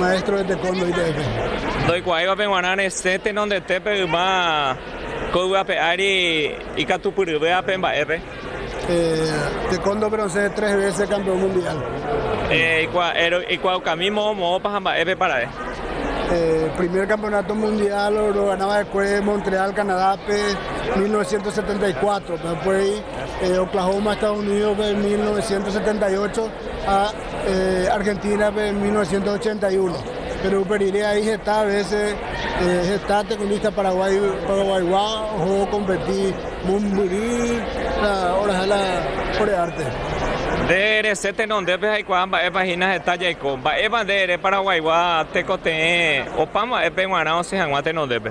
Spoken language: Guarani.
Maestro reteko ndoiterefe. Ndoikuaáiva pe guarã resẽ tenondetépe yma ko yvape ári ikatupyryve ape mba'épe. Teko ndobronsẽ tres vése kampeón mundiál. Ikuaukami moõ moõpa ha mba'épepa ra'e. Primer kampeonáto mundiál rogana va'ekue Montreal Kanadápe mil novecientos setenta y cuatro, upéi Oklahoma Estados Unídospe mil novecientos setenta y ocho ha Argentínape mil novecientos ochenta y uno, péro upe rire ai heta vese, heta tekundista paraguái, paraguaygua oho okompeti mombyry oraha la ore árte. Nde rese tenondépe jaikuaa mba'épa hína heta jaiko. Mba'épa nde ere paraguaygua tekotevẽ opa mba'épe g̃uarã osẽ hag̃ua tenondépe?